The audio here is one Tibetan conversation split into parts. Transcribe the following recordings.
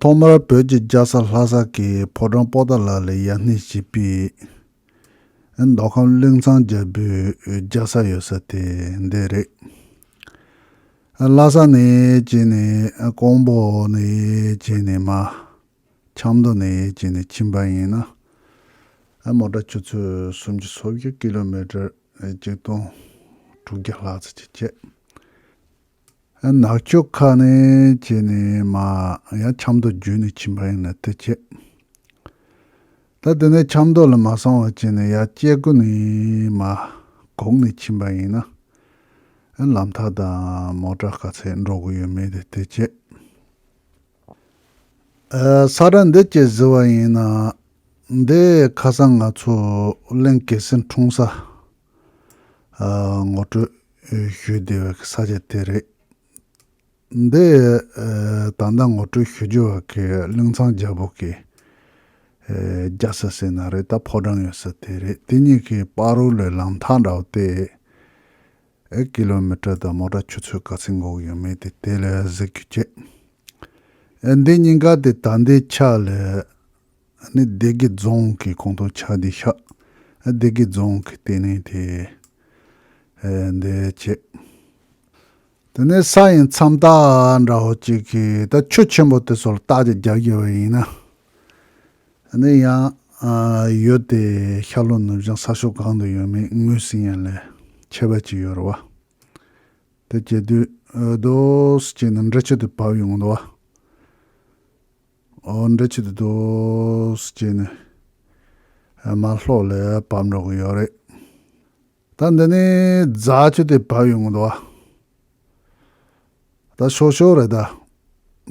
ཐོག་མར་བོད་ཀྱི་རྒྱལ་ས་ལྷ་ས་ཀྱི་ཕོ་བྲང་པོ་ཏཱ་ལ་ལའི་ཡར་སྣེ་བྱས་པའི་མདོ་ཁམས་གླིང་ཚང་རྒྱལ་པོའི་རྒྱལ་ས་ཡོད་ས་དེ་འདི་རེད། ལྷ་ས་ནས་བྱས་ནས་ཀོང་པོ་ནས་བྱས་ནས་མ་ཆབ་མདོ་ནས་བྱས་ནས་ཕྱིན་པ་ཡིན་ན། མོ་ཏྲ་ཆུ་ཚོད་གསུམ་གྱི་སོ་བཞི་ཀི་ལོ་མི་ཀྲེར་གཅིག་སྟོང་དྲུག་བརྒྱ་ལྷག་ཙི་ཅི་བྱེད། ནག་ཕྱོགས་ཁ་ནས་བྱས་ནས་མ་ཡང་ཆབ་མདོ་བརྒྱུད་ནས་ཕྱིན་པ་ཡིན་ལ་དེ་བྱས། ད་དེ་ནས་ཆབ་མདོ་ལ་མ་སོང་བར་བྱས་ནས་ཡར་སྐྱེ་རྒུ་ནས་མ་གོང་ནས་ཕྱིན་པ་ཡིན་ན། ལམ་ཐག་དང་མོ་བྲག་ག་ཚད་འགྲོ་དགོས་ཡོད་མེད་དེ་དེ་བྱས། ས་ར་འདི་བཅས་ཟེར་བ་ཡིན་ན། འདི་ཁ་སང་ང་ཚོ་གླིང་གེ་སེང་འཁྲུངས་ས། ངོ་སྤྲོད། ཞུས་བདེ་བའི་ས་ཆ་དེ་རེད། འདི་ད་ལྟ་ངོ་སྤྲོད་ཞུ་རྒྱུ་བ་གི་གླིང་ཚང་རྒྱ་བོད་ཀྱི་རྒྱ་ས་ཟེར་ན་རེད་ད་ཕོ་བྲང་ཡོད་ས་དེ་རེད་དེ་གཉིས་ཀྱི་དཔའ་རོལ་ལོའི་ལམ་ཐག་འདྲ་བོ་སྟེ། ཀི་ལོ་མི་ཏྲ་དང་མོ་ཏྲ་ཆུ་ཚོད་ག་ཚོད་འགོག་ཡོད་མེད་དེ་དེ་ལས་གཟིགས་རྒྱུ་བྱེད། འདི་གཉིས་ཀ་དེ་ད་ལྟའི་ཆ་ལས། ནི་སྡེ་དགེ་རྫོང་གི་ཁོངས་གཏོགས་ཆགས་བསྡད་ཤག་སྡེ་དགེ་རྫོང་གི་ལྟེ་གནས་དེ་འདི་བྱས། དེ་ནས་ས་ཡི་མཚམས་ཐག་འདྲ་བོ་གཅིག་གིས་ད་ཆུ་ཆེན་པོ་དེ་ཚོར་བརྟག་དཔྱད་རྒྱག་རྒྱུ་བ་ཡིན། ནི་ཡང་ཡོད་དེ་ཤར་ལྷོ་ནུབ་བྱང་ས་ཕྱོགས་གང་དུ་ཡོད་མེད་ངོས་ཟིན་ཡང་ལས་ཁྱད་པར་ཅི་ཡོད་རེད་བ། དེ་བྱས་དུས་རྡོ་སུ་གཅིག་ནི་འབྲི་ཆུ་དུ་བབས་ཡོང་དུ་བ། འདྲ་བྱེད་དུ་འདུག་ཅེས་ནས་མ་ལྷོག་ལས་བབས་འགྲོ་གི་ཡོད་རེད། ད་འདི་ནི་རྫ་ཆུ་དེ་བབས་ཡོང་གི་འདུག་ཨ། ད་ཤོག་ཤོག་རེད་ད།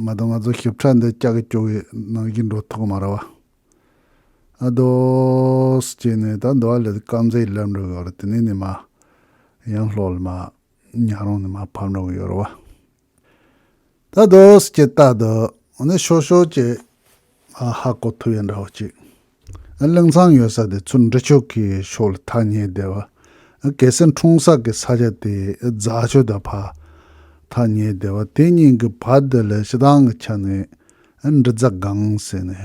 ང་དང་ང་ཚོ་ཞིབ་ཕྲ་འདི་སྐྱག་གི་སྐྱོ་བའི་ནང་བཞིན་འགྲོ་ཐུབ་གི་མ་རེད་བ། ཨ་འདུག་ཅེས་ནས་ད་འདི་བ་ལས་དཀར་མཛེས་སླེབས་འགྲོ་གི་ཡོད་རེད་དེ་ནས་ནི་མ། ཡང་ལྷོག་ལ་མ། ཉག་རོང་ནས་མ་བབས་འགྲོ་གི་ཡོད་རེད་བ། ད་དུས་ཀྱི་རྟགས་དུ་ནི་ཤོར་ཤོར་གྱི་ཧ་གོ་ཐུབ་ཡ་འདྲ་བ་ཅིག་གླིང་ཚང་ཡོད་ས་དེ་ཚུར་འབྲི་ཆོག་གི་ཤོག་ལ་ཐག་ཉེ་བསྡད་བ། གལ་སྲིད་འཁྲུངས་ས་གི་ས་ཆ་དེ་རྫ་ཆུ་དང་བར་ཐག་ཉེ་བསྡད་བ་དེ་གཉིས་ཀྱི་བར་དེ་ལ་ཞེ་སྡང་གི་ཆ་ནས་འབྲི་རྫ་སྒང་ཟེར་ནས་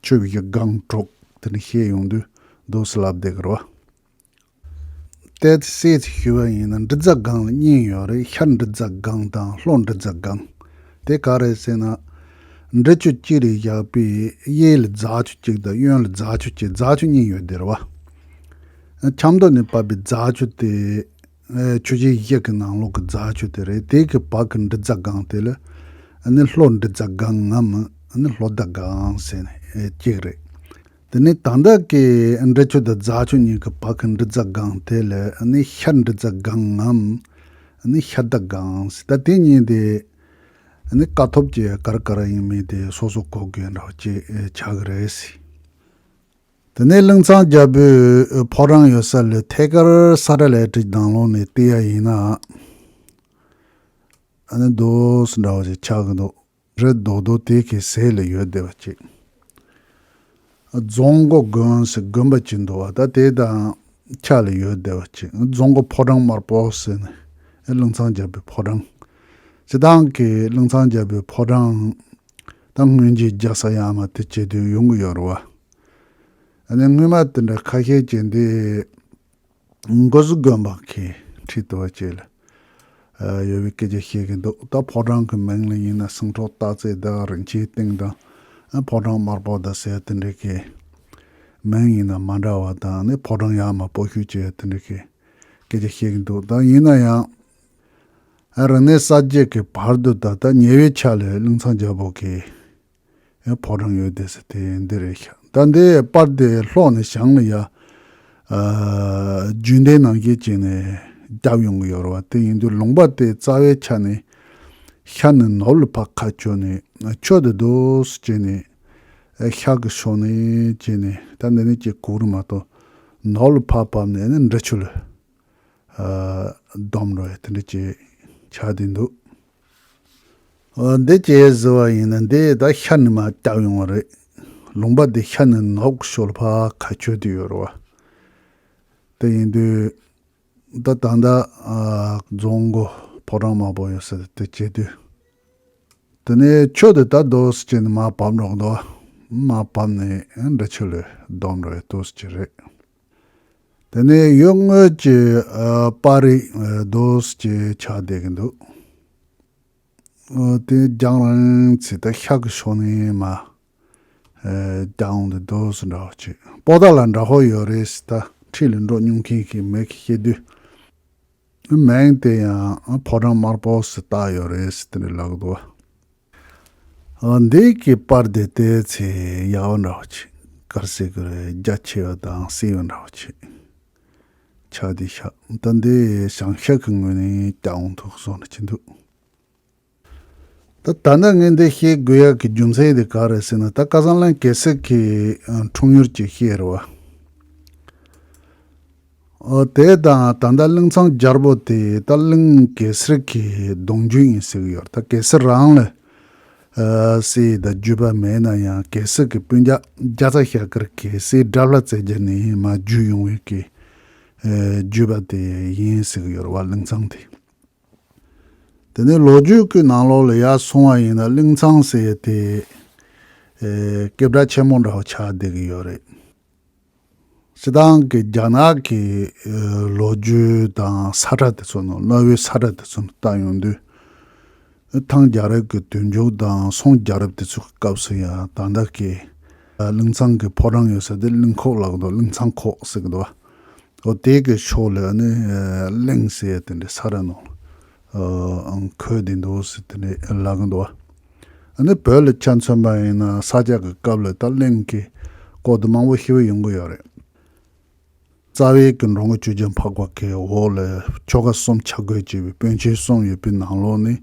ཆོས་ཀྱི་སྒང་དྲུག་དེ་ནས་བཤད་ཡོང་དུས་སྡོད་སླ་བསྡད་གི་རེད་བ། གཏད་སའི་ཞུ་བ་ཡིན་ན་འབྲི་རྫ་སྒང་ལ་གཉིས་ཡོད་རེད་ཤར་འབྲི་རྫ་སྒང་དང་ལྷོ་འབྲི་རྫ་སྒང། དེ་ག་རེད་ཟེར་ན། འབྲི་ཆུ་གཅིག་རེད་བཞག་པས་གཡས་ལ་རྫ་ཆུ་གཅིག་དང་གཡོན་ལ་རྫ་ཆུ་གཅིག་རྫ་ཆུ་གཉིས་ཡོད་དེར་བ། ཆབ་མདོ་ནས་བབས་པའི་རྫ་ཆུ་དེ། ཆུ་བཞི་གཞི་གི་ནང་ལོགས་ཀྱི་རྫ་ཆུ་དེ་རེད་དེ་གི་བར་གྱི་འབྲི་རྫ་སྒང་དེ་ལ་ནི་ལྷོ་འབྲི་རྫ་སྒང་ངམ་ནི་ལྷོ་རྫ་སྒང་ཟེར་ནས་གཅིག་རེད། འདི་ནི་དང་བདག་གི་འབྲི་ཆུ་དང་རྫ་ཆུ་གཉིས་ཀྱི་བར་གྱི་འབྲི་རྫ་སྒང་དེ་ལ་ནི་ཤར་འབྲི་རྫ་སྒང་ངམ། ནི་ཤར་རྟ་སྒང་ཟེར་ད་དེ་གཉིས་དེ་ནི་དཀའ་ཐུབ་ཀྱི་གར་དཀར་ཡིན་མིན་དེ་སོ་སོ་གོ་དགོས་འདྲ་བ་ཅིག་ཆགས་ཀྱི་རེད། དེ་ནས་གླིང་ཚང་རྒྱལ་པོའི་ཕོ་བྲང་ཡོད་ས་ལས་ཐད་ཀར་ས་སྒྲ་ལས་བྲིས་དང་ལོག་ནས་བལྟས་ཡ་ཡིན་ན་ནི་རྡོ་ཟེར་འདྲ་བ་ཞིག་ཆགས་ཀྱི་འདུག། རི་རྡོག་རྡོག་དེ་གའི་ཟས་ལ་ཡོད་བདེ་བ་སྐྱེས། རྫོང་མགོ་དགོན་ཟེར་དགོན་པ་གཅིག་འདུག་བ་ད་དེ་དང་ཁྱག་ལ་ཡོད་བདེ་བ་སྐྱེས། རྫོང་མགོ་ཕོ་བྲང་དམར་པོ་ཟེར་ནས་གླིང་ཚང་རྒྱལ་པོའི་ཕོ་བྲང། སྤྱི་བཏང་གི་གླིང་ཚང་རྒྱལ་པོའི་ཕོ་བྲང། ད་སྔོན་རྗེས་རྒྱག་ས་ཡང་མ་དེ་བྱེད་དུས་ཡོང་གི་ཡོད་རེད་བ། ཨ་ནི་སྔོན་མ་དེ་འདྲ་ཁ་ཤས་ཀྱི་འདི། མགོ་གཟུགས་དགོན་པ་གི་ཁྲི་དེ་བ་བཅས་ལ་ཡོད་པའི་སྐད་ཆ་བཤད་ཀྱི་འདུག་ད་ཕོ་བྲང་གི་མིང་ལ་ཡིན་ན་སེང་ཁྲོག་སྟག་རྩེ་དག་རིན་ཆེན་སྟེང་དང་ཕོ་བྲང་དམར་པོ་དག་ཟེར་དེ་འདྲ་གི་མིང་ཡིན་ན་མ་འདྲ་བ་དང་ནི་ཕོ་བྲང་ཡག་མ་པོ་ཤུལ་བཅས་དེ་འདྲ་གི་སྐད་ཆ་བཤད་ཀྱི་འདུག་ད་ཡིན་ན་ཡང་རིག་གནས་གསར་བརྗེ་གི་བར་དུ་ད་ལྟ་ཉེ་བའི་ཆ་ལས་གླིང་ཚང་རྒྱལ་པོ་གི། ཡང་ཕོ་བྲང་ཡོད་དེ་ཟེར་དེ་འདི་རེད་ཤག་ད་འདི་པར་དེ་ལྷོག་ནས་བྱང་ལ་ཡ། རྒྱུན་ལྡན་ནང་སྐྱེས་བྱས་ནས་བརྒྱབ་ཡོང་གི་ཡོད་རེད་བ་དེ་ཡིན་དུས་ལུང་པ་དེ་རྩ་བའི་ཆ་ནས་ཤར་ནས་ནུབ་ལ་ཕག་ཁ་ཁྱོད་ནས་ཁྱོད་དེ་རྡོ་སུ་བྱས་ནས་ཤག་གི་ཕྱོགས་ནས་བྱས་ནས་ད་འདི་ནས་ཀྱི་གུག་རི་མ་གཏོགས་ནུབ་ལ་ཕག་བབས་ནས་ནི་འདྲི་ཆུ་ལ་སྡོམ་རེད་དེ་འདྲ་བྱས་ཆགས་དེ་འདུག། འདི་ཇི་ཡི་ཟིལ་བ་ཡིན་ན་འདི་ད་ཤ་ནི་མ་བཏགས་ཡོང་བ་རེད། ལུང་པ་འདི་ཤ་ནི་ནག་ཞོལ་ཕ་ག་ཆོས་དུ་ཡོད་རེད་བ། དེ་ཡིན་དུས་ད་ད་ལྟ་རྫོང་གི་ཕོ་བྲང་མང་པོ་ཡོད་སྲིད་དེ་བྱེད་དུས། དེ་ནས་ཆོས་དུ་ད་བསྡོ་སུ་བྱེད་ནི་མ་བབས་རོགས་འདོ། མ་བབས་ནི་འདྲི་ཆུ་ལས་བསྡོམས་རེད་ལྟོས་སུ་བྱེད་རེད། དེ་ནས་གཡོག་དངུལ་གྱི་པར་རིས Dose ཅེས་ཆགས་བསྡད་ཀྱི་འདུག་དེ་རྒྱང་རིང་ཚེ་ད་ཤག་གི་ཕྱོགས་ནས་མ་རྒྱང་འདི Dose འདྲ་བོ་གཅིག་པོ་ད་ལ་འདྲ་བོ་ཡོད་རེད་ཟེར་ད་འཁྲིས་ལས་འགྲོ་སྙུང་མཁན་ཞིག་མེད་གི་སྐྱེ་དུས་མིང་དེ་ཡང་ཕོ་བྲང་དམར་པོ་ཟེར་ད་ཡོད་རེད་ཟེར་ཏེ་འདྲི་ལག་ཏུ་བ། འདས་ཀྱི་པར་དེ་བལྟས་ཚེ་ཡག་བོ་འདྲ་བོ་བྱེད། དཀར་སེར་གྱི་རྒྱ་ཆེ་བ་དང་སེར་བོ་འདྲ་བོ་བྱེད། ཕྱག་དེ་ཤ་ཏི་འདི་ཞང་ཤ་གི་ངོས་ནས་བལྟ་འོང་ཐུགས་གསོ་འདྲ་བྱེད་འདུག། ད་ད་ནི་ངས་འདི་བཤད་དགོས་ཡག་གི་རྒྱུ་མཚན་དེ་ག་རེད་ཟེར་ན་ད་ཀ་ས་ལན་གེ་སི་ཁི་འཁྲུངས་ཡུལ་གྱི་ཤེས་ར་བ། དེ་དང་ད་ལྟ་གླིང་ཚང་རྒྱར་པོ་དེ་ད་གླིང་གེ་སར་གྱི་གདོང་རྒྱུད་ཡིན་ཟེར་གྱི་ཡོད་ད་གེ་སར་རང་ལ་སའི་ད་རྒྱུད་པ་མེད་ན་ཡང་གེ་སར་གྱི་སྤུན་རྒྱག་རྒྱ་ཚ་ཤ་ཀར་གེ་སའི་འདྲ་བརླ་བཙལ་རྒྱ་ནས་མ་རྒྱུད་ཡོང་བའི་གེ་རྒྱུད་པ་དེ་ཡིན་ཟེར་གྱི་ཡོད་བ་གླིང་ཚང་དེ་དེ་ནས་ལོ་རྒྱུས་ཀྱི་ནང་ལོག་ལ་ཡར་སོང་བ་ཡིན་ན་གླིང་ཚང་ཟེར་དེ་སྐད་བརྡ་ཆེན་མོ་འདྲ་བ་ཆགས་བསྡད་གྱི་ཡོད་རེད། སྤྱི་བཏང་གི་རྒྱ་ནག་གི་ལོ་རྒྱུས་དང་ས་ཁྲ་དེ་ཚོ་ནང་གནའ་བོའི་ས་ཁྲ་དེ་ཚོ་ནང་བལྟ་ཡོང་དུས། ཐང་རྒྱལ་རབས་ཀྱི་དུས་མཇུག་དང་སོང་རྒྱལ་རབས་དེ་ཚོའི་སྐབས་སུ་ཡང་དང་དག་གི་གླིང་ཚང་གི་ཕོ་བྲང་ཡོད་ས་དེ་གླིང་ཁོག་ལགས་འདུག་གླིང་ཚང་ཁོག་ཟེར་གི་འདུག་བ། འོ་དེ་གི་ཕྱོགས་ལས་ནི་གླིང་ཟེར་དེ་འདྲའི་ས་ཁྲ་ནང། ཁོས་དེ་འདུག་ཟེར་དེ་ནས་ལབ་གི་འདུག་ཨ་ནི་བོད་ལ་ཆ་མཚོན་པ་ཡིན་ན་ས་སྐྱ་གི་སྐབས་ལ་ད་གླིང་གི་སྐོར་དུ་མང་པོ་ཤི་བ་ཡོང་གི་ཡོད་རེད། རྩ་བའི་གི་འགྲོ་འགོ་བཅུ་བརྒྱ་འཕགས་པ་གི་འོག་ལ་ཆོ་ག་གསུམ་ཆ་བགོས་བྱས་པའི་དཔོན་ཆེན་གསུམ་ཡོད་པའི་ནང་ལོགས་ནི་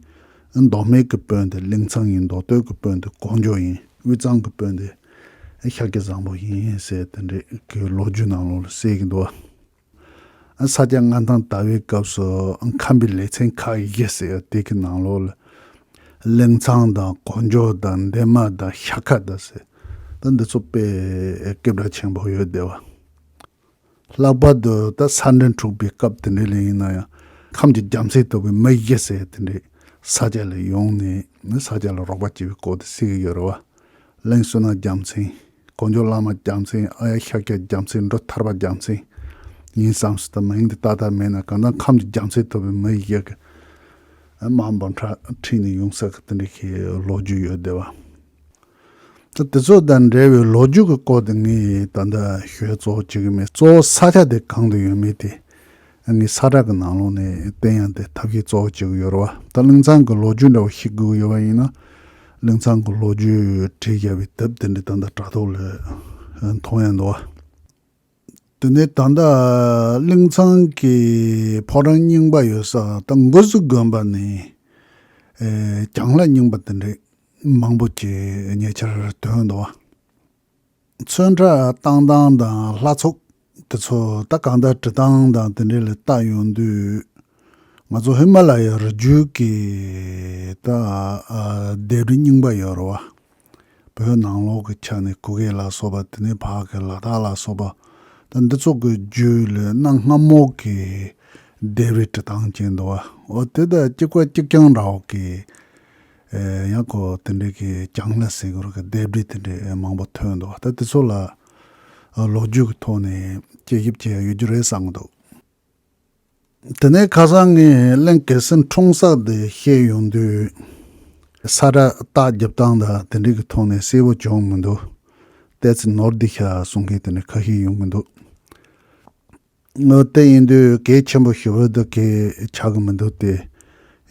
མདོ་སྨད་གི་དཔོན་དེ་གླིང་ཚང་ཡིན་མདོ་སྟོད་གི་དཔོན་དེ་ཀོང་ཇོ་ཡིན་དབུས་གཙང་གི་དཔོན་དེ་ཤཱཀྱ་བཟང་པོ་ཡིན་ཟེར་དེ་འདྲའི་གི་ལོ་རྒྱུས་ནང་ལོགས་ལ་གསལ་གི་འདུག། ས་སྐྱ་ལྔ་དང་ཟླ་བའི་སྐབས་སུ་ཁམས་པའི་ལེ་ཚན་ཁག་བཞི་ཟེར་དེ་གི་ནང་ལོགས་ལ། གླིང་ཚང་དང་གོ་འཇོ་དང་འདན་མ་དང་ཤ་ཁ་དང་ཟེར་ད་འདི་ཚོ་པས་སྐད་གྲགས་ཆེན་པོ་ཡོད་དེ་བ། ལྷག་པར་དུ་ད་ས་འདྲེན་འཁྲུགས་པའི་སྐབས་དེ་འདྲའི་ལས་ཡིན་ན་ཡང་ཁམས་ཀྱི་རྒྱམ་སེ་དོག་པའི་མི་བཞི་ཟེར་དེ་འདྲས་ས་སྐྱ་ལ་ཡོང་ནས་ས་སྐྱ་ལ་རོགས་པ་བྱས་པའི་སྐོར་དེ་གསལ་གི་ཡོད་རེད་བ། གླིང་བསོད་ནམས་རྒྱམ་སེང། དཀོན་མཆོག་བླ་མ་རྒྱལ་མཚན་ཨ་ཡ་ཤཱཀྱ་རྒྱལ་མཚན་འགྲོ་ཐར་པ་རྒྱལ་མཚན་ཡིན་བསམ་སྲིད་དུ་མིང་འདི་ཏག་ཏག་མེད་ན་གང་ལྟར་ཁམས་ཀྱི་རྒྱལ་མཚན་ཐོབ་པའི་མི་ཡི་ཡག་གི་མ་འབབ་འཕྲ་འཁྲིས་ནས་ཡོང་ས་གི་དེ་འདྲ་ཤེས་ལོ་རྒྱུས་ཡོད་བསྡད་པ། ད་དེ་ཚོ་དང་འབྲེལ་བའི་ལོ་རྒྱུས་ཀྱི་སྐོར་དེ་ངས་ད་ལྟ་ཤོད་གཙོ་བོ་བྱེད་གི་མེད་གཙོ་བོ་ས་ཆ་དེ་གང་དུ་ཡོད་མེད་དེ་ངའི་ས་བསྒྲགས་ཀྱི་ནང་ལོགས་ནས་བལྟས་ཡང་དེ་ཐབས་ཤེས་གཙོ་བོ་བྱེད་དགོས་ཡོད་རེད་བ། ད་གླིང་ཚང་གི་ལོ་རྒྱུས་འདྲ་བོ་ཤེས་དགོས་ཀྱི་ཡོད་པ་ཡིན་ན། གླིང་ཚང་གི་ལོ་རྒྱུས་བྲིས་བསྐྱལ་བའི་དེབ་དེ་འདྲའི་ད་ལྟ་དྲ་ཐོག་ལས་མཐོང་ཡང་འདུག་བ། དེ་ནས་ད་ལྟ་གླིང་ཚང་གི་ཕོ་བྲང་རྙིང་པ་ཡོད་ས་ད་མགོ་གཟུགས་དགོན་པ་ནས་གྱང་ལྷ་རྙིང་པ་དེ་འདྲའི་མང་པོ་བྱས་ཉེ་ཆར་ཐོན་འདུག་བ། མཚོན་གྲ་སྟངས་སྟངས་དང་ལྷ་ཚོགས་དེ་ཚོ་ད་གང་ལྟར་བྲི་སྟངས་དང་དེ་འདྲས་ལ་ལྟ་ཡོང་དུས། ང་ཚོ་ཧི་མ་ལ་ཡའི་རི་རྒྱུད་ཀྱི་ད་ལྡེབས་རི་རྙིང་པ་ཡོད་རེད་བ། བོད་ནང་ལོགས་ཀྱི་ཆ་ནས་གུ་གེ་ལ་སོགས་པ་དེ་ནས་བར་གྱི་ལ་དྭགས་ལ་སོགས་པ་ད་འདི་ཚོ་གི་རྒྱུད་ལས་གནའ་སྔ་མོ་གི་ལྡེབས་རི་བྲི་སྟངས་ཅན་འདུག་བ་འོ་དེ་ད་གཅིག་པ་གཅིག་རྐྱང་འདྲ་བོ་གི་ཡང་ཁོ་དེ་འདྲའི་གི་གྱང་ལ་ཟེར་དགོས་རོགས་གི་ལྡེབས་བྲིས་དེ་འདྲའི་མང་པོ་ཐོན་འདུག་ད་དེ་ཚོ་ལ་ལོ་རྒྱུས་ཀྱི་ཐོག་ནས་དཔྱད་ཞིབ་བྱས་ཡོད་རྒྱུ་རེད་བསམ་འདུག་དེ་ནས་ཁ་སང་ངས་གླིང་གེ་སེང་འཁྲུངས་ས་དེ་བཤད་ཡོང་དུས། ས་ར་རྟགས་བརྒྱབ་སྟངས་དང་དེ་འདྲའི་གི་ཐོག་ནས་གསལ་བོ་བྱུང་མི་འདུག་ལྟས་ཚེ་ནོར་འདི་ཤ་གསུང་མཁན་དེ་འདྲ་ཁ་ཤས་ཡོང་གི་འདུག་དངུལ་རྟེན་ཡིན་དུས་གལ་ཆེན་པོ་ཞིག་འོས་བསྡུ་གིས་ཆགས་ཀྱི་མི་འདུག་སྟེ།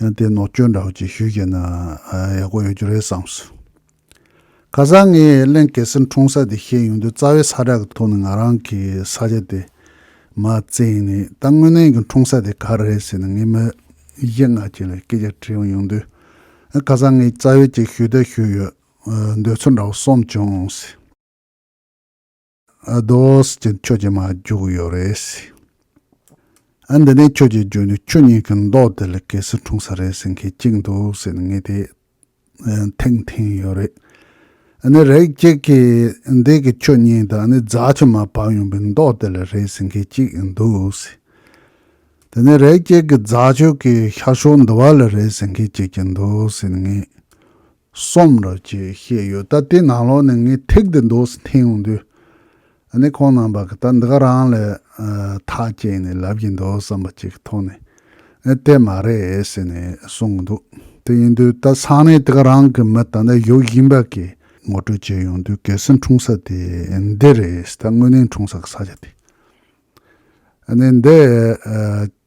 ཡང་དེ་ནོར་བཅོས་འདྲ་བོ་ཅིག་ཞུས་བྱས་ན་ཡག་པོ་ཡོད་རྒྱུ་རེད་བསམ་སོང། ཁ་སང་ངས་གླིང་གེ་སེར་འཁྲུངས་ས་དེ་ཤེས་ཡོང་དུས་རྩ་བའི་ས་བསྒྲགས་ཀྱི་ཐོག་ནས་ང་རང་གི་ས་ཆ་དེ་མ་བཙལ་ཡིན་ནའི་ད་དངོས་གནས་ཀྱི་འཁྲུངས་ས་དེ་ག་རེད་ཟེར་ནས་ངས་མི་གཞི་ལྔ་ཅན་ལ་སྐད་ཆ་དྲིས་ཡོང་དུས། ཁ་སང་ངས་རྩ་བའི་ཅིག་ཞུས་ད་ཞུས་ཡོད་འདོད་ཚུལ་འདྲ་བོ་སོམས་བྱུང་ཟེར། ཟློས། ཁྱོད་ཀྱིས་མ་བརྒྱུགས་ཡོད་རེད། ཨ་འདི་ནས་ཁྱོད་ཀྱིས་བརྒྱུགས་ནས་ཁྱོད་གཉིས་ཀྱི་མདོག་དེ་ལ་གལ་སྲིད་འཁྲུངས་ས་རེད་ཟེར་མཁན་གཅིག་འདུག་ཟེར་ནས་ངས་དེ་ཐེངས་ཐེངས་ཡོད་རེད། ཨ་ནི་རེག་བྱེད་ཀྱི་འདས་ཀྱི་ཁྱོད་གཉིས་དང་ཨ་ནི་རྫ་ཆུ་མ་བབས་ཡོང་པའི་མདོག་དེ་ལ་རེད་ཟེར་མཁན་གཅིག་འདུག། དེ་ནས་རེག་བྱེད་ཀྱི་རྫ་ཆུ་གི་ཤར་ཕྱོགས་འདུ་བ་ལ་རེད་ཟེར་མཁན་གཅིག་ཀྱང་འདུག་ཟེར་ནས་ངས་གསུམ་རེད་ཅེས་བཤད་ཡོད་སྟབས་དེ་ནང་ལོགས་ནས་ངས་ཐེག་དེ་མདོ་སུ་འཐེན་ཡོང་དུས། ཨ་ནེ་ཁོང་རྣམས་པ་གི་ད་འདི་ག་རང་ལས་ཐག་བཅད་ནས་ལབ་ཀྱི་འདུག་བསམ་པ་ཅིག་གི་ཐོག་ནས་ཨེ་དེ་མ་རེད་ཟེར་ནས་གསུང་གི་འདུག་དེ་ཡིན་དུས་ད་ས་གནས་དེ་ག་རང་གི་མི་ད་ལྟ་བཞུགས་བཞིན་པ་གི་ངོ་སྤྲོད་བྱས་ཡོང་དུས་གལ་སྲིད་འཁྲུངས་ས་དེ་འདི་རེད་ད་དངོས་གནས་འཁྲུངས་ས་གི་ས་ཆ་དེ་ཨ་ནེ་འདི་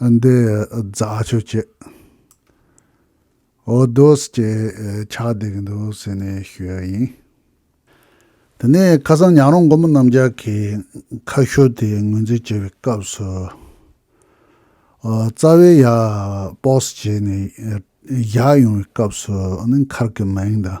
འདི་རྫ་ཆུ་སྐྱེས། འོ་རྡོ་སྐྱེས་ཆགས་བསྡད་འདུག་ཟེར་ནས་ཤོད་ཡིན། དེ་ནས་ཁ་སང་ཉག་རོང་མགོ་མོ་རྣམ་རྒྱལ་གྱིས་ཁ་ཤོ་དེ་ངོས་འཛིན་བྱེད་པའི་སྐབས་སུ། རྩ་བའི་ཡ། པོགས་སྐྱེས་ནས་ཡ། ཡོང་བའི་སྐབས་སུ་ནི་མཁར་གྱི་མིང་དང།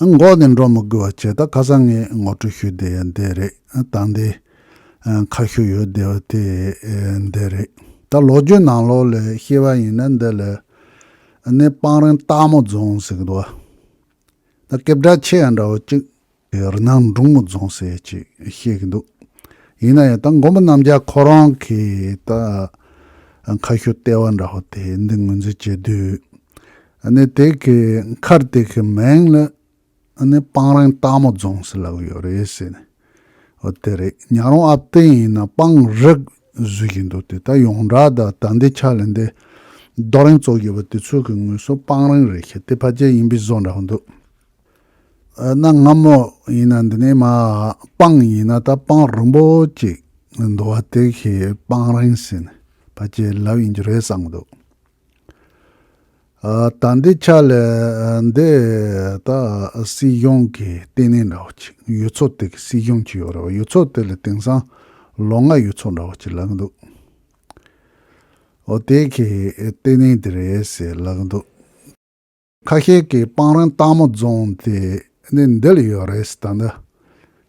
འགོག་ནས་འགྲོ་མི་དགོས་པ་བྱས་ད་ཁ་སང་ངས་ངོ་སྤྲོད་ཞུས་བསྡད་ཡ་འདས་རེད་ད་འདི་ཁ་ཤོ་ཡོད་བསྡད་པ་དེ་འདས་རེད་ད་ལོག་རྒྱུ་ནང་ལོག་ལས་ཤེས་པ་ཡིན་ན་འདི་ལས་ནས་སྤང་རིང་སྟག་མོ་རྫོང་ཟེར་གི་འདུག་བ་ད་སྐད་བསྒྲགས་ཆེ་ཡང་འདྲ་བོ་གཅིག། རི་ནང་འབྲུག་མོ་རྫོང་ཟེར་ཅིག་བཤད་གི་འདུག་ཡིན་ན་ཡང་ད་མགོན་པོ་རྣམ་རྒྱལ་ཁོ་རང་གི་ད་མཁའ་ཤོད་ལྟེ་བ་འདྲ་བོ་དེ་འདི་ངོས་འཛིན་བྱེད་དུས་ནི་དེ་གི་མཁར་དེ་གི་མིང་ལ་ནི་སྤང་རིང་སྟག་མོ་རྫོང་ཟེར་ལབ་ཡོད་རེད་ཟེར་ནས་ཨོ་དེ་རེད་ཉག་རོང་ཨབ་སྟེང་ཡིན་ན་སྤང་རི་ཟེར་གྱི་འདུག་དེ་ད་ཡོངས་གྲགས་ད་ད་འདི་ཆ་ལ་འདི་རྡོ་རིང་བཙོག་གི་བ་དེ་ཚོ་གི་ངོས་སུ་སྤང་རིང་རེད་ཤེས་དེ་ཕ་རྒྱལ་ཡིན་པའི་བཟོ་འདྲ་བོ་འདུག། གནའ་སྔ་མོ་ཡིན་ན་འདི་ནས་མ་སྤངས་ཡིན་ན་ད་སྤངས་རིང་པོ་ཅིག་འདུག་བ་དེ་ཤི་སྤངས་རིང་ཟིན་བ་ཅི་ལབ་ཡིན་རྒྱུ་རེད་བསམ་གྱི་འདུག་ད་འདི་ཆ་ལས་འདི་ད་སྲིད་གཞུང་གི་ལྟེ་གནས་འདྲ་བོ་ཅིག་ཡུལ་ཚོ་དེ་གི་སྲིད་གཞུང་ཅིག་ཡོད་རེད་བ་ཡུལ་ཚོ་དེ་ལ་དེང་སང་ལོ་ང་ཡུལ་ཚོ་འདྲ་བོ་ཅིག་ལབ་གྱི་འདུག་འོ་དེ་གི་ལྟེ་གནས་འདི་རེད་ཟེར་ལབ་གྱི་འདུག། ཁ་ཤས་ཀྱིས་སྤང་རང་སྟག་མོ་རྫོང་དེ་ནི་འདི་ལ་ཡོད་རེད་ཟེར་ད་འདི་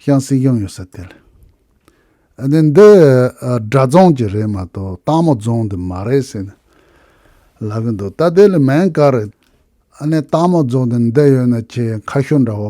ཤང་སྲིད་གཞུང་ཡོད་ས་དེ་ལ་ནི་འདི་སྒྲ་རྫོང་གྱི་རེད་མ་གཏོགས་སྟག་མོ་རྫོང་དུ་མ་རེད་ཟེར་ནས་ལབ་ཀྱི་འདུག་ད་དེ་ལ་མེན་ཀར་སྟག་མོ་རྫོང་དུ་འདི་ཡོད་ན་ཁྱེད་ཁ་ཤོ་འདྲ་བོ་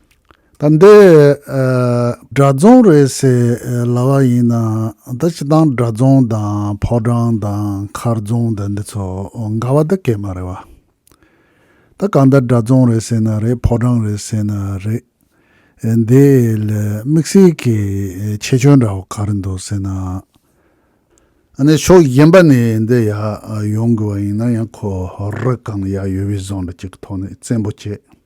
ད་འདི་སྦྲ་རྫོང་རེད་ཟེར་ལབ་པ་ཡིན་ན་ད་སྤྱི་དང་སྦྲ་རྫོང་དང་ཕོ་བྲང་དང་མཁར་རྫོང་ད་འདི་ཚོ་འགའ་བ་ད་གད་མ་རེད་བ། ད་གང་ལྟར་སྦྲ་རྫོང་རེད་ཟེར་ན་རེད་ཕོ་བྲང་རེད་ཟེར་ན་རེད་འདི་ལ་དམིགས་བསལ་གྱི་ཆེ་ཆུང་འདྲ་བོ་ག་རེ་འདུག་ཟེར་ན། ཨ་ནི་ཕྱོགས་གཞན་པ་ནས་འདི་ཡག་ཡོང་དགོས་བ་ཡིན་ན་ཡང་ཁོ་རི་གང་ཡག་ཡོད་བའི་བཟོ་འདྲ་གཅིག་གི་ཐོག་ནས་བཙན་པོ་བྱེད།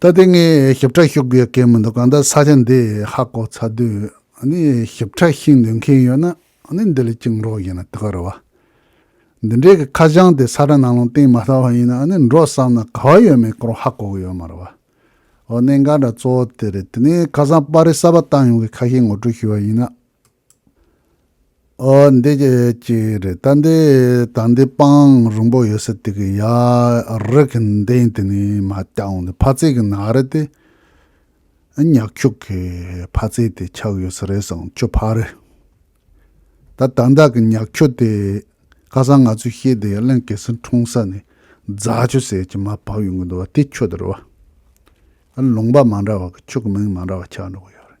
ད་ལྟའི་ངའི་ཞིབ་ཕྲ་ཤོད་དགོས་ཀྱི་མི་འདུག་གང་ལྟར་ས་ཆ་འདི་ཧ་གོ་ཚར་དུས་ནི་ཞིབ་ཕྲ་ཤིག་འདོན་མཁན་ཡོད་ན་ནི་འདི་ལས་གཅིག་འབྲོག་བཞེངས་ན་དེ་ག་རེ་བ། འདི་འདྲའི་གི་ཁ་བྱང་དེ་ས་ཁྲ་ནང་ལོང་སྟེང་མ་བལྟ་བ་ཡིན་ན་ནི་འབྲོག་བསམ་ན་ག་བ་ཡོད་མེད་སྐོར་ཧ་གོ་གི་ཡོད་མ་རེ་བ། འོ་གནད་འགག་འདྲ་གཙོ་བོ་དེ་རེད་དེ་ནས་ཁ་སང་པར་རིས་གསར་པ་བཏང་ཡོང་གི་ཁ་ཤས་ངོ་སྤྲོད་ཞུས་བ་ཡིན་ན། འདི་གཅིག་རེད་ད་འདི་དང་འདི་སྤང་རིང་པོ་ཡོད་ས་དེ་གི་ཡ་རེ་གི་འདེང་དེ་ནི་མ་བསྐྱང་འོང་དེ་ཕ་ཚེ་གི་ན་རེ་དེ་ཉག་ཁྱུག་གི་ཕ་ཚེ་དེ་ཆགས་ཡོད་ས་རེད་སང་ཆུ་ཕ་རེད་ད་དང་བདག་གི་ཉག་ཁྱུག་དེ་ཁ་སང་ང་ཚོས་ཤེས་དེ་ཡ་གླིང་གེ་སེར་འཁྲུངས་ས་ནི་རྫ་ཆུ་ཟེར་གྱི་མ་བབས་ཡོང་གི་འདུག་བ་དེ་ཁྱོད་དེ་རེད་བ་ལུང་པ་མ་འདྲ་བ་གི་ཁྱུག་གི་མིང་མ་འདྲ་བ་ཆགས་འགྲོ་གི་ཡོད་རེད།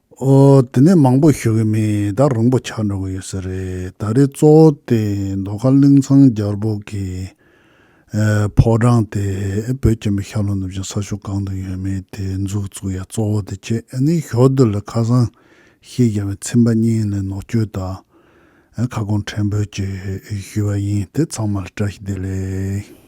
ཨོ། དེ་ནས་མང་པོ་ཞུ་གི་མེད་ད་རིང་པོ་ཆགས་འགྲོ་གི་ཡོད་ས་རེད་ད་རེས་གཙོ་བོ་དེ་མདོ་ཁ་གླིང་ཚང་རྒྱལ་པོ་གི་ཕོ་བྲང་དེ་བོད་ཀྱི་མི་ཤར་ལྷོ་ནུབ་བྱང་ས་ཕྱོགས་གང་དུ་ཡོད་མེད་དེ་འཛུགས་བཙུགས་ཡ་གཙོ་བོ་དེ་ཁྱེད་ནི་ཞོ་རྡུལ་ལ་ཁ་སང་ཤེས་རྒྱ་བའི་ཚིམ་པ་གཉིས་ལས་ནོག་བཅོས་དང་ཁ་སྐོང་ཕྲན་བོད་ཀྱི་ཞུས་པ་ཡིན་དེ་ཚང་མ་ལ་བཀྲ་ཤིས་བདེ་ལེགས།